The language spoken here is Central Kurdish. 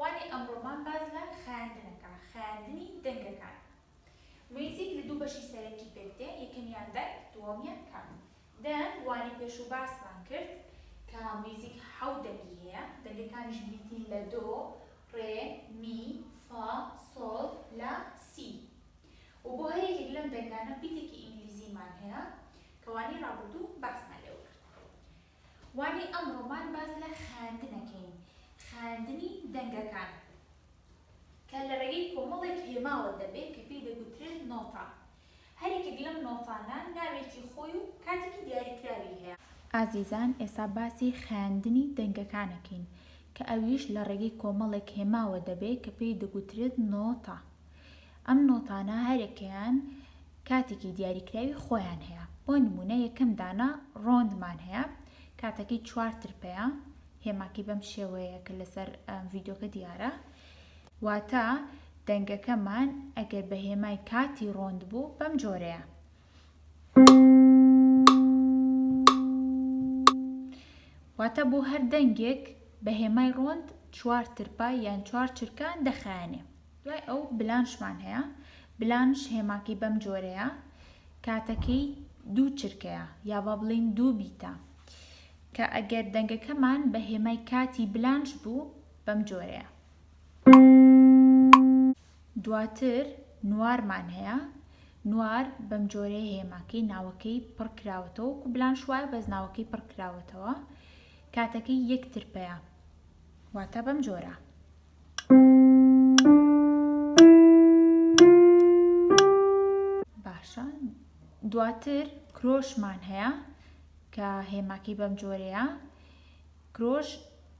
وانەی ئەمڕۆمان باس لە خایاندن ئەکا، خایاندنی دەنگەکان. میوزیک لە دوو بەشی سەرەکی پێک دێ، یەکەمیان دەنگ، دووەمیان کات. دەنگ، وانەی پێشوو باسمان کرد کە میوزیک حەوت دەنگی هەیە، دەنگەکانیش بریتین لە دۆ، ڕێ، می، فا، سۆڵ، لا، سی. و بۆ هەر یەکێک لەم دەنگانە بیتێکی ئینگلیزیمان هەیە کە وانەی ڕابردوو باسمان لێوە کرد. وانەی ئەمڕۆمان باس لە خایاندن ئەکەین، خایاندنی دەنگەکان کە لە ڕێگەی کۆمەڵێک هێماوە دەبێت کە پێی دەگوترێت نۆتا، هەر یەکێک لەم نۆتانە ناوێکی خۆی و کاتێکی دیاریکراوی هەیە. ئازیزان ئێستا باسی خایاندنی دەنگەکان ئەکەین کە ئەویش لە ڕێگەی کۆمەڵێک هێماوە دەبێت کە پێی دەگوترێت نۆتا. ئەم نۆتانە هەریەکەیان کاتێکی دیاریکراوی خۆیان هەیە بۆ نمونە یەکەم دانە ڕۆندمان هەیە کاتەکەی چوار ترپەیە هێماکەی بەم شێوەیە کە لەسەر ڤیدۆکە دیارە واتە دەنگەکەمان ئەگەر بە هێمای کاتی ڕۆند بوو بەم جۆرەیە واتە بۆ هەر دەنگێک بە هێمای ڕۆند چوار ترپا یان چوار چرکان دەخایەنێ دوای ئەو بلانشمان هەیە بلانش هێماکەی بەم جۆرەیە کاتەکەی دوو چرکەیە یا با بڵین دوو بیتە کە ئەگەر دەنگەکەمان بە هێمای کاتی بلانش بوو بەم جۆرەیە دواتر نوارمان هەیە، نوار بەم جۆرەیە هێماکەی ناوەکەی پڕ کراوەتەوە وەکو بلانشوایە بەس ناوەکەی پڕ کراوەتەوە کاتەکەی یەک ترپەیە واتە بەم جۆرە. باشە دواتر کرۆشمان هەیە کە هێماکەی بەم جۆرەیە کرۆش